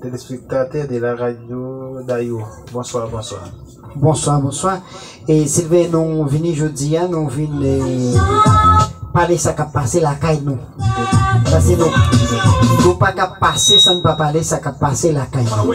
Telespektatè de la radio Dayou bonswa bonswa. Bonswa bonswa e silvè nou vini jodi a nou vin pale sa kap pase lakay nou pase nou nou pa kap pase san pa pale sa kap pase lakay nou.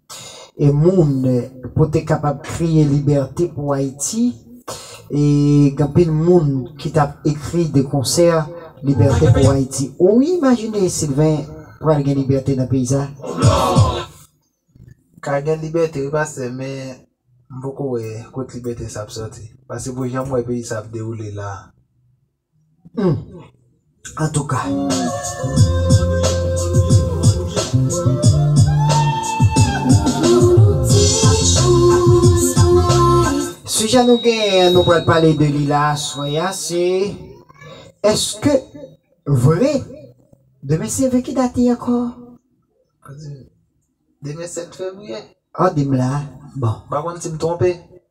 e moun pou te kapab kriye libète pou Ayiti e gen anpil moun ki tap ekri de konsè libète pou Ayiti ou imajine Sylvain pral gen libète nan peyi sa ka gen libète wi pastè men m poko wè kot libète sa ap sòti pase pou janm wè peyi sa ap dewoule la. Sijè nou genyen an nou pral pale de li la aswè a se, Eske vre demen se ve ki dat li ankò? Demen 7 fevriye. An di m la bon. M pa konn si m twonpe.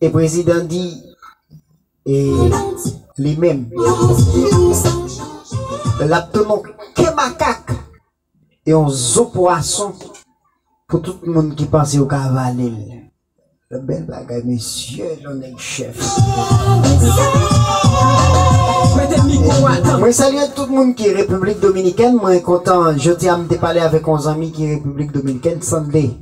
E prezidan di e li menm l ap ton on ke makak e on zo pwason pou tout moun ki panse yo ka vale l. Bèl bagay mesye yon nèg chèf. Mwen salye tout moun ki repiblik dominikèn mwen kontan jodi a m te pale avèk on zanmi ki repiblik dominikèn Sande.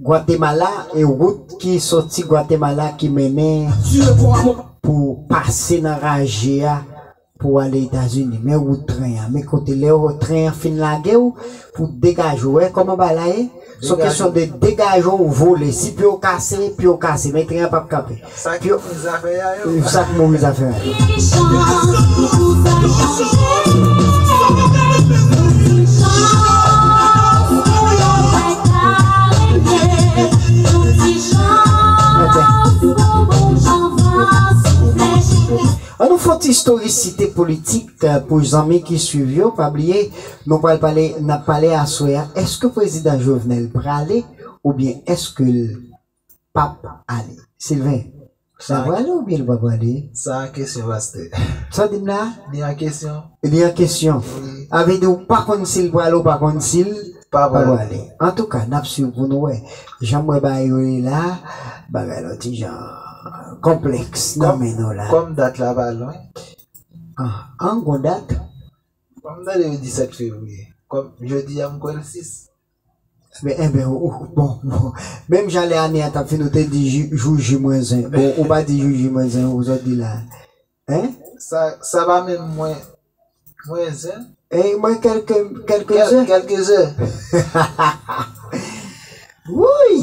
Gwatemala e wout ki soti Gwatemala ki mennen pou pase nan raje a pou ale Etazini. Men wout tren an. Men kote lè tren an fin lage w pou degaje w. Ou wè kòman bagay la ye? Son kesyon de degaje w vole. Si pye w kase, pye w kase. Men tren an pap kanpe. Sak yo move zafè ya yo. Yves sak move zafè ya yo. An nou fon ti storisite politik pou zanmi ki swiv yo pa bliye nou pral pale nap pale aswè a eske prezidan Jovenel prale oubyen eskel pap ale. Sylvain, sa prale ou byen li pa prale? Sa an kesyon pastè. Sa w di m la? Li an kesyon. Li an kesyon. Sa vle di ou pa konn si l prale ou pa konn si l pa prale. Antouka, n ap swiv pou nou wè. Jan m wè bagay yo ye la, bagay la yon ti jan konplèks nan men nou la. Kòm dat la pa lwen. An, gon dat? M tande yo di 7 fevriye. Kòm jodi a m kwè l 6. Enben ou bon menm jan lè ane a tap fini ou te di jou ji mwen zen bon ou pa di jou ji mwen zen ou zo di la hein sa pa menm mwen mwen zen eh mwen kelke kelke zen kelke zen hahaha wouyy.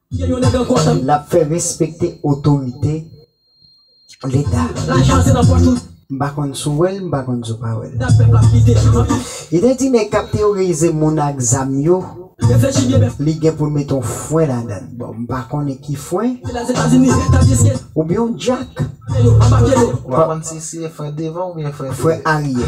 L ap fè respekte otorite Leta. M pa konn si w wè l, m pa konn si w pa wè l. Li te di nèg k ap teyorize moun ak zam yo, li gen pou l mete yon fwen ladan l. Bon, m pa konnen ki fwen. Oubyen yon djak. M pa konn si se fwen devan oubyen fwen aryè.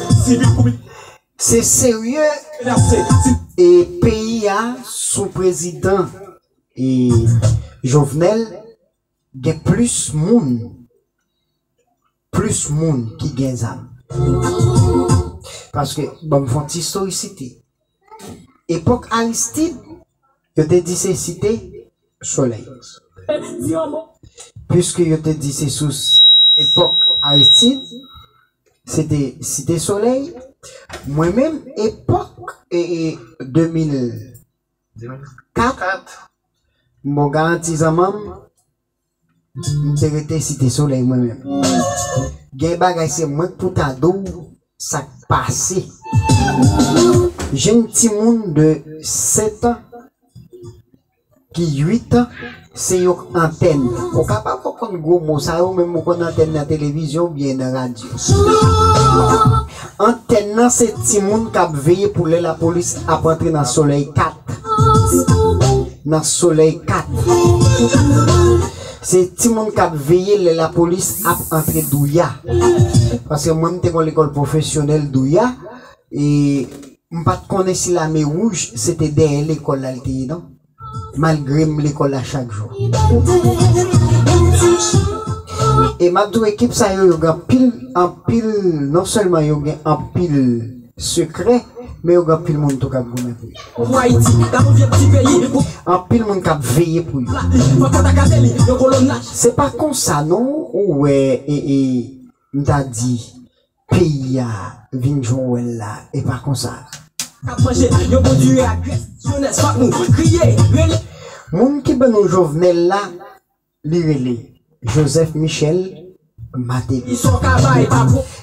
Se serye e peyi a sou prezidan e jovenel gen plis moun plis moun ki gen zam paske banm fon ti stori site Epok Aristide yo te di se site soley. Puiske yo te di se sous epok Aristide se te site soley, mwen menm epok 2004 m bon garanti zanmanm. M te rete site solèy mwen menm. Gen bagay se mwenk pou ta di w sak pase. Jenn timoun de 7 an ki 8 an se yon antèn. Ou ka pa konprann gwo mo sa yo menm ou konn antèn nan televizyon oubyen nan radyo. Antèn nan se timoun k ap veye pou lè lapolis ap antre nan solèy 4 nan solèy 4 se timoun k ap veye lè lapolis ap antre douya paske mwen m te gon lekòl pwofesyonèl douya e m pa t konnen si lame wouj se te dèyè lekòl la l te ye non. Malgrem lekol la chak jou. E map diw ekip sa yo yo gen anpil anpil non selman yo gen anpil sekrè men yo gen anpil moun tou kap goumen pou yo. Anpil moun kap veye pou yo. Se pa konsa non ou wè e e mta di Peyi a vin jwenw wèl la epa konsa. Kap manje yo bon diri ak grès jenès fòk nou kriye rele. Moun ki ban nou jovenel la li rele joseph michel mateli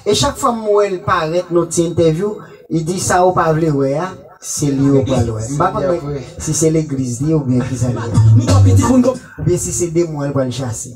e chak fwa m wèl parèt nou ti entèvyou li di sa ou pa vle wè a se li ou pral wè m pa konn mwen si se legliz li oubyen kisa li ye oubyen si se demon an li pral chase.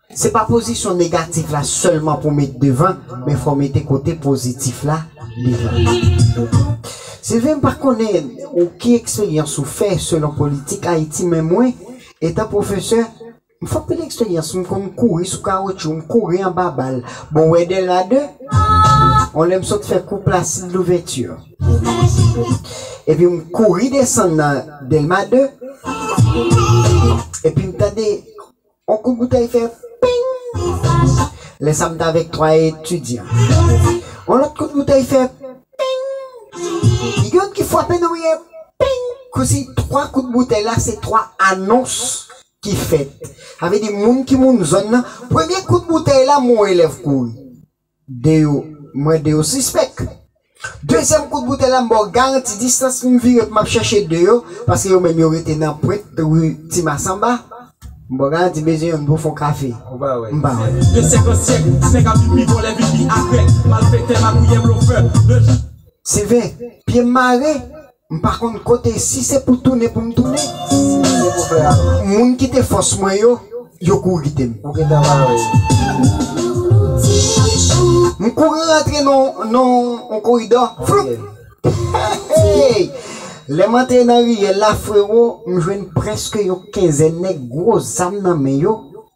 Se pa pozisyon negatif la sèlman pou met devan men fò mete kote pozitif la devan tou. Sylvain m pa konnen ou ki eksperyans ou fè selon politik Ayiti men mwen, etan pwofesè, m fè anpil eksperyans m konn kouri sou kawotchou, m kouri anba bal, bon wè de la de, yon lè m sot fè kou Placide Louverture epi m kouri desann nan Delma 2 epi m tande. On kout boutèy fè ping! Lè sa m t avèk twa etidyan. On lòt kout boutèy fè ping! Gen youn ki frape nan mwen ping! Kousi twa kout boutèy la se twa anons ki fèt. Sa vle di moun ki moun zòn nan, premye kout boutèy la m wè on elèv kouri. 2 yo mwen 2 yo sispèk. Dezyèm kout boutèy la m baw garanti distans m vire pou map chèche 2 yo paske yo menm yo rete nan pwent rue ti masamba. M baw garanti m bezwen yonn pou fon kafe m pa wè. De syèk an syèk nèg ap pipi vòlè pipi agrè malfektè magouyè blofè de jou. Se vè pyem mare. M pa konn kote si se pou tounen pou m tounen. Si se pou fè a. Moun ki te fòs mwen yo, yo kouri kite m. Ou gentan bare. M kouri rantre nan yon koridò. Floup! Hey! Lè m antre nan riyèl la, frero, m jwenn prèske yon kenzèn nèg gwo zam nan men yo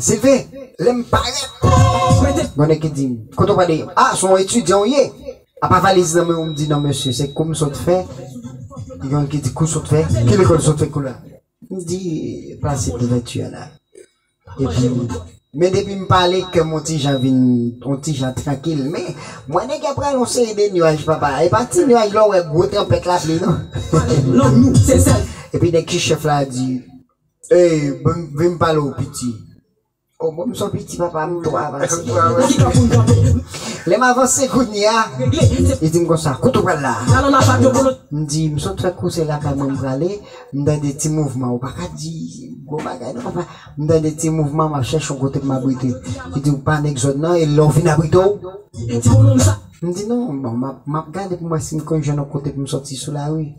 Silvin, lè m parèt, gen nèg ki di m, kote w prale? A, se yon etidyan w ye? Apa valiz nan men w, m di non mesye, se kou m sot fè. Gen yon ki di, kou w sot fè? Ki lekòl w sot fè kou la? M di, Placide Louverture an la. Epi, men depi m pale, kè m yon ti jan vin yon ti jan trankil. Men, m wè nèg yo ap rale yon seri de nuaj papa. E pa ti nuaj lè w wè gwo tranpèt lapli non. Epi nèg ki chèf la a di. Hey vim pale w piti. Oh bon m son piti papa m two avanse Lè m avanse kounye a Li di m konsa kote w pral la M di m sot fè kouse lakay mwen m prale M tande ti mouvman ou pa ka di gwo bagay non papa M tande ti mouvman m ap chèche yon kote pou m abrite Li di ou pa nèg zòn nan e lè w fin abrite w M di non bon m ap gade pou m wè si m konn jwenn yon kote pou m soti sou lari.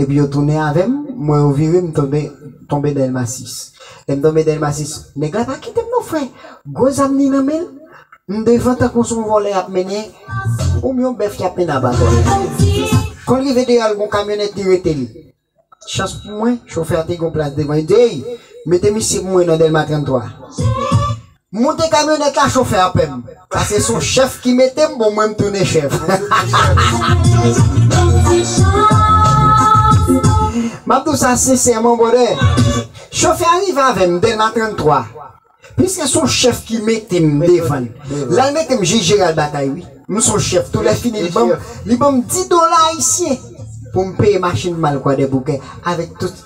Epi yo tounen avèm, m wè yo vire m tonbe tonbe Dèlma 6. Lè m tonbe Dèlma 6, nèg la pa kite m non frè, gwo zam li nan men l, m devan tankou s on vòlè y ap mennen oubyen yon bèf ki ap mennen abatwa. Kon l rive deyò l gon kamyonèt li rete l. Chans pou mwen, chofè a te gen yon plas devan, li di, Ey! Mete misye pou mwen nan Dèlma 33. M moute kamyonèt la chofè a pèm. Sa se son chèf ki mete m bon mwen m tounen chèf. M ap di w sa sensèman bròdè. Chofè a rive avè m dèlma 33. Piske son chèf ki mete m devan l. La l mete m jij jeral batay wi. M son chèf tou lè fini li ban m 10 dola ayisyen pou m peye machin m al kwadèboukè avèk tout.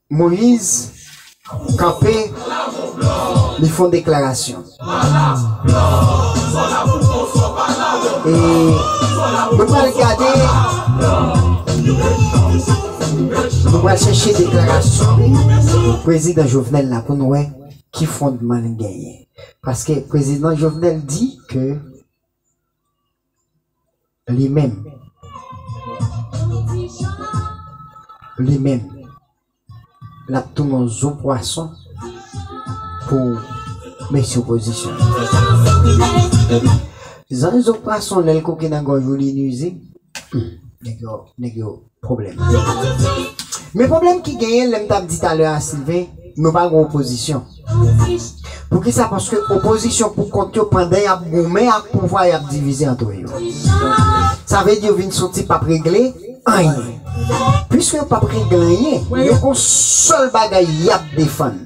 Moyiz kanpe, li fon deklarasyon. E nou pral gade, nou pral chèche deklarasyon prezidan Jovenel la pou nou wè ki fondman li genyen. Paske prezidan Jovenel di ke. Li menm. Li menm. L ap tounen yon zo pwason pou mesye opozisyon an. Zan zo pwason lè l koke nan gòj ou li nwizib. Nèg yo, nèg yo. pwoblèm. Men pwoblèm ki genyen lè m t ap di talè a Sylvain nou pa gen opozisyon. Poukisa paske opozisyon pou kont yo pandan y ap goumen ak pouvwa y ap divize antre yo. Sa vle di yo vin soti p ap regle anyen. Piske yo p ap regle anyen yo gen yon sèl bagay y ap defann.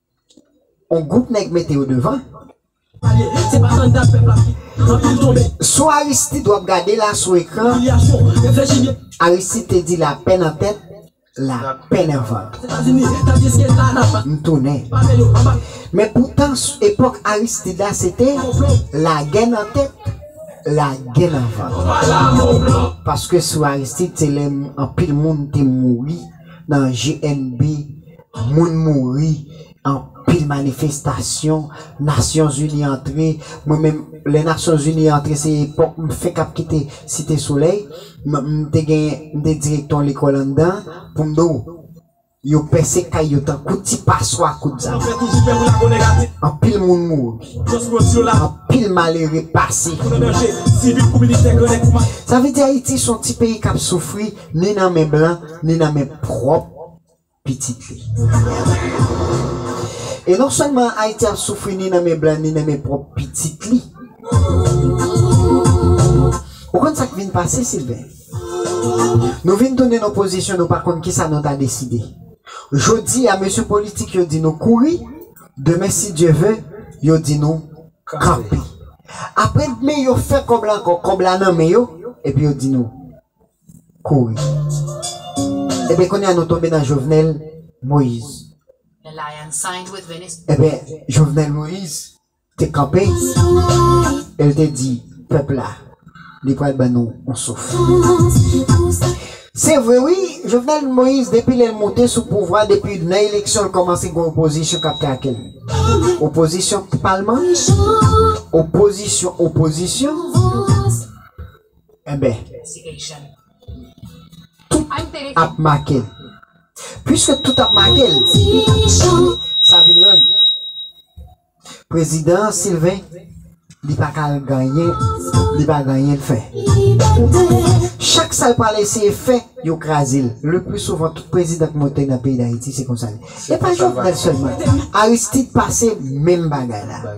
On gwoup nèg mete yo devan. Sou Aristide wap gade la sou ekran Aristide te di lapè nan tèt lapè nan vant m tounen men poutan epòk Aristide la se te lagè nan tèt lagè nan vant paske sou Aristide se lè anpil moun te mouri nan GNB Moun mouri anpil manifestasyon nasyon zini antre mwen menm lè nasyon zini antre se epòk m fenk ap kite site solèy m te gen m te direktè yon lekòl anndan pou m di w yo pèse kay yo tankou ti paswa kout zam anpil moun mouri anpil malere pase sa vle di ayiti son ti peyi k ap soufri ni nan men blan ni nan men pwòp pitit li. E non sèlman Ayiti ap soufri ni nan men blan ni nan men pwòp pitit li. Ou konn sa k vin pase, Silven? Nou vin tounen nan yon pozisyon nou pa konn ki sa nou ta deside. Jodi a mesye politik yo di nou kouri, demen si Dye ve, yo di nou kanpe. Apre dmen yo fè kòb la ankò, kòb la nan men yo, epi yo di nou. kouri. Ebyen kounye a nou tonbe nan Jovenel Moise. Ebyen Jovenel Moise te kanpe e l te di pèp la li pral ban nou yon souf. Se vre wi, Jovenel Moise depi lè l moute sou pouvwa, depi nan eleksyon l kòmanse gen opozisyon k ap trake l. Opozisyon palman, opozisyon opozisyon. Enben, tout ap make l. Piske tout ap make l, sa vin rann Prezidan Sylvain li pa ka genyen, li pa genyen l fè. Chak sa l pral eseye fè, yo kraze l. Leplisouvan, tout prezidan k monte nan peyi Dayiti, se konsa l ye. E pa Jovenel sèlman. Aristide pase menm bagay la.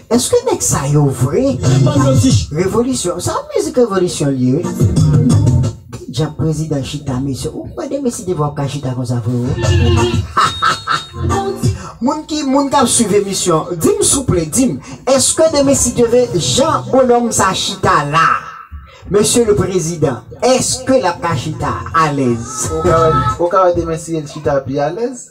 Eske nèg sa yo vre revolisyon sa mizik revolisyon liye wi ki djab prezidan chita mesye ou kwè de mesye te vwa ka chita konsa freo hahahaa moun ki moun kap swiv emisyon dim souple dim eske de mesye te vwe jan bonòm sa chita la mesye le prezidan eske lap ka chita alèz ou ka wè de mesye chita pi alèz.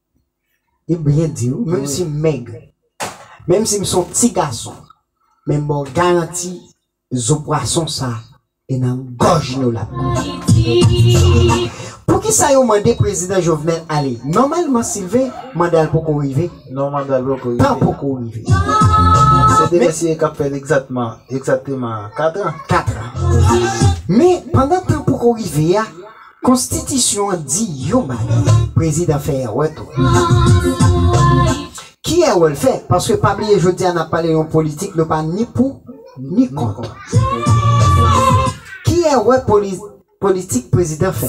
Yo byen di wi, menm si m mèg, menm si m son ti gason, men m ba w garanti zo pwason sa e nan gòj nou lap rive. Poukisa yo mande prezidan Jovenel ale? Nòmalman Sylvain, manda l poko rive. Non manda l poko rive. Tan poko rive. Se de mesye kap fè l egzatman, egzateman 4 an. 4 an. Men pandan tan poko rive a. Konstitisyon an di yon bagay, prezidan fè èrè tou. Ki èrè l fè? Paske pa bliye jodi a n ap pale yon politik nou pa ni pou ni kont. Ki èrè politik prezidan fè?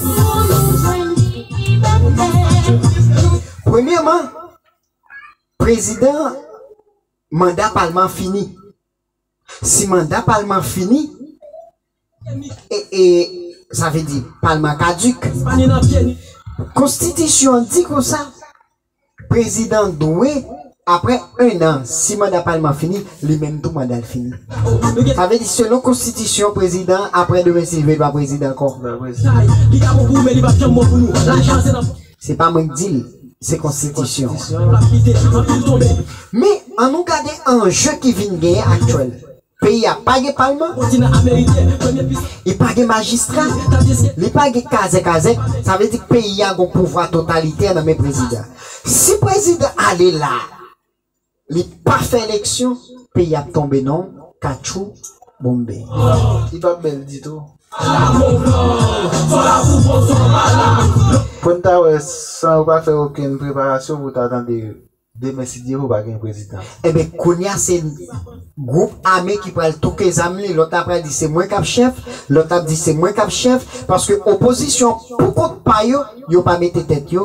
Premyèman, prezidan manda palman fini. Si manda palman fini e sa vle di palman kaduk. Konstitisyon an di konsa prezidan dwe apre 1 an si manda palman fini li menm tou manda l fini. Sa vle di selon konstitisyon prezidan apre demen si l vle l pa prezidan ankò. Se pa mwen k di l, se konstitisyon an. Men, an nou gade anje ki vin genyen aktyèl. Peyi a pa gen palman, li pa gen majistra, li pa gen kazèk azèk, sa vle di peyi a gen yon pouvwa totalitè nan men prezidan. Si prezidan ale la. Li pa fè eleksyon peyi ap tonbe non katchou bonmbe. Li pap bèl ditou. Poun ta wè san yo pa fè okenn preparasyon pou ta tande demen sidye vo pa gen prezidan. Enben kounya se group ame ki pral touke zam li lòt la pral di se mwen kap chèf lòt la ap di se mwen kap chèf paske opozisyon pou kont pa yo yo pa mete tèt yo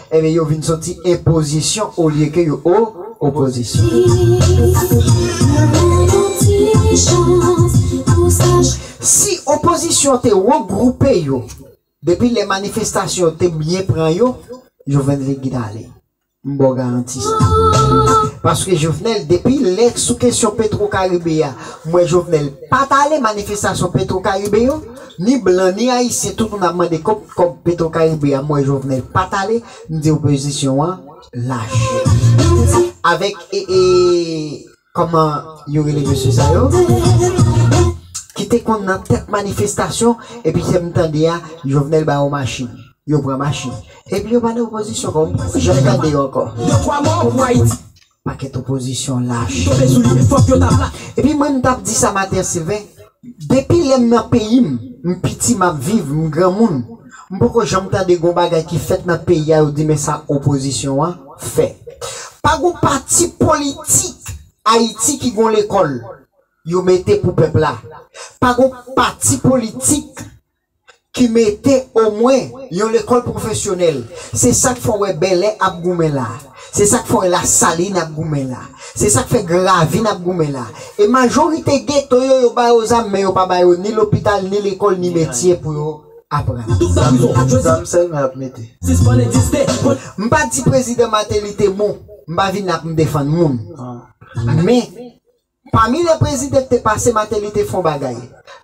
Enben yo vin soti enpozisyon olye ke yo o opozisyon. Si opozisyon te regwoupe yo depi lè manifestasyon yo te byen pran yo, Jovenel te gin ale. M ba w garanti sa. Paske Jovenel depi lè sou kesyon Petro Caribe a, m wè Jovenel pa t ale manifestasyon Petro Caribe yo. Ni blan ni ayisyen tout moun ap mande kob kob petro caribe a mwen jovenel pat ale m di opozisyon an lach. Avek ee koman yo rele mesye sa yo ki te konn nan tet manifestasyon epi se m tande a jovenel ba yo machin yo pran machin epi yo pa nan opozisyon ankò m poko janm tande yo ankò. Pakèt opozisyon lach. Ki tonbe sou li fòk yo ta plak. Epi mwen m tap di sa maten Sylvain. Depi lè m nan peyi m, m piti map viv, m granmoun, m poko janm tande gon bagay ki fèt nan peyi a yo di men sa opozisyon an fè. Pa gon pati politik Ayiti ki gon lekòl yo mete pou pèp la. Pa gon pati politik ki mete omwen yon lekòl pwofesyonèl. Se sa k fè w wè Bèlè ap goumen la. Se sa k fè w wè Lasalin ap goumen la. Se sa k fè Gravin ap goumen la. E majorite geto yo, yo ba yo zam men yo pa ba yo ni lopital, ni lekòl, ni metye pou yo aprann. Zam sèlmen y ap mete. M pa di Prezidan Mateli te bon. M pa vin la pou m defann moun. Men. Pami lè prezidan te pase mateli te fon bagay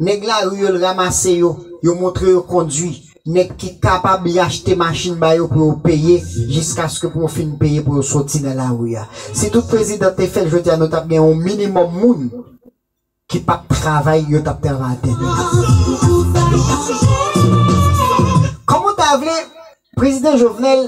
nèg lari yo l ramase yo yo montre yo kondwi nèg ki kapab li achte machin ba yo pou yo peye jiskaske pou yo fin peye pou yo soti nan lari a si tout prezidan te fèl jodi a nou tap gen yon minimòm moun ki pap travay yo tap travay a tèt. Kòm ou ta vle prezidan jovenel.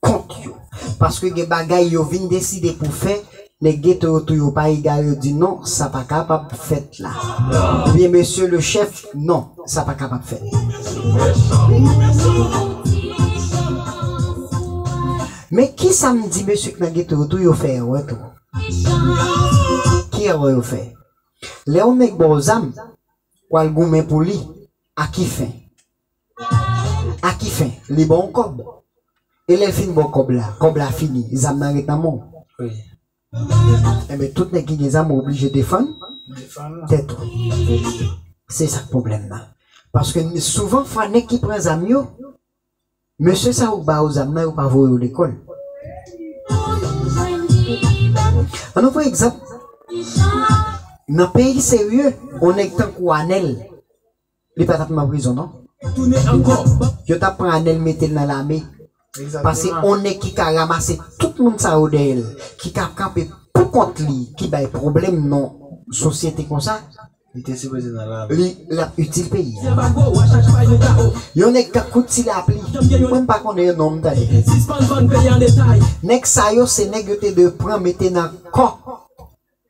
kont yo paske gen bagay yo vin deside pou fè nèg geto yo tou yo pa egare yo di non sa pa kapab fèt la oubyen mesye le chèf non sa pa kapab men kisa m di mesye k nan geto yo tou yo fè erè tou ki erè yo fè lè yon nèg ba w zam w al goumen pou li a ki fen A ki fen? Li ba w kòb. E lè l fin ba w kòb la? Kòb la fini, zam nan ret nan men w. Enben, tout nèg ki gen zam oblije defann tèt ou. Se sa k pwoblèm nan. Paske souvan fwa nèg ki pran zam yo, mesye sa yo k ba yo zam nan yo pa voye yo lekòl. An nou pran egzanp, nan peyi serye, yon nèg tankou Anèl. Li pa tap nan prizon non. Yo tap pran anel metel nan lame pase on neg ki ka ramase tout moun sa yo dèyèl ki ka kanpe pou kont li ki bay problèm non sosyete konsa li lap itil peyi yon neg kap kout ti lapli mwen m pa konnen yo non m tande neg sa yo se neg yo te dwe pran mete nan kò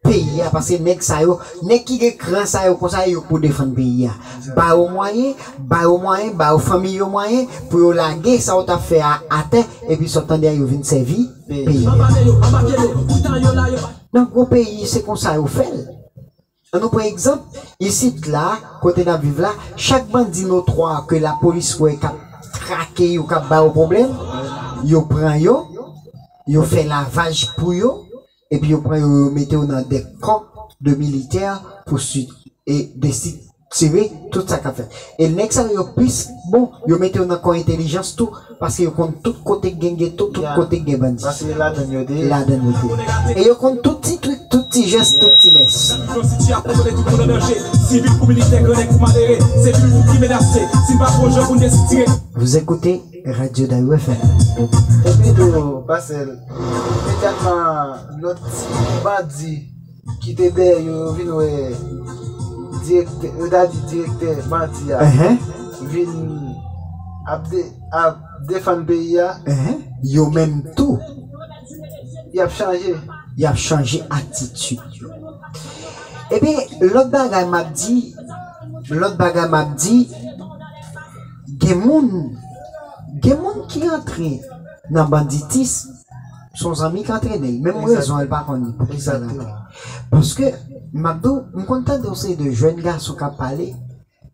peyi a pase nèg sa yo nèg ki gen kran sa yo konsa yo pou defann peyi a ba yo mwayen ba yo mwayen ba yo fanmiy yo mwayen pou yo lage sa yo tap fè a atè epi sa w tande a yo vin sèvi peyi a. Nan gwo peyi se konsa yo fè l an nou pran egzanp isit la kote nap viv la chak bandi notwa ke lapolis wè kap trake yo kap ba yo pwoblèm yo pran yo yo fè lavaj pou yo epi yo pran yo yo mete yo nan de kan de militè pou sid e desid tire tout sa kap fèt e nèg sa yo yo plis bon yo mete yo nan kò entelijans tou paske yo konn tout kote k gen geto tout kote k gen bandi ladann yo te ye e yo konn tout ti trik tout ti jès tout ti mès. Vous écoutez Radyo Dayou FM. Epi tou, Pasèl, te tèlman lòt ti bandi ki te dèyè yo, yo vin wè direktè, yo ta di direktè bandi a vin ap defann peyi a, yo menm tou, y ap chanje. Y ap chanje atitid yo. Epi, lòt bagay m ap di, lòt bagay m ap di. Gen moun Gen moun ki antre nan banditism son zanmi k antrene l menm rezon l pa konn ni poukisa l antre paske m ap di w m konn tande yon seri de jèn gason k ap pale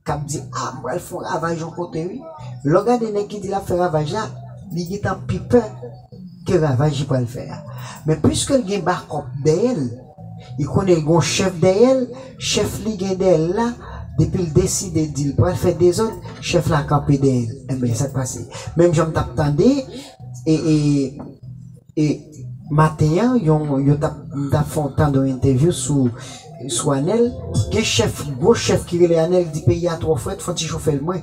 k ap di a m pral fè yon ravaj yon kote wi lè w gade nèg ki di l ap fè ravaj la li gentan pi pè ke ravaj li pral fè a men piske l gen bakòp dèyè l Li konnen li gen yon chèf dèyè l, chèf li gen dèyè l la, depi l deside di l pral fè dezòd, chèf la kanpe dèyè l. Enben, sa k pase? Menm jan m t ap tande maten an, yo t ap, m t ap fè yon tande yon entèvyou sou Anèl, gen chèf, gwo chèf ki rele Anèl, ki di peyi a twò frèt, fon ti chofè l mwen.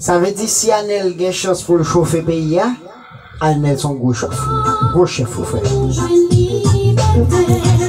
Sa vle di si anel gen chans poul chofe peyi a anel son gwo chef gwo chef wi frè.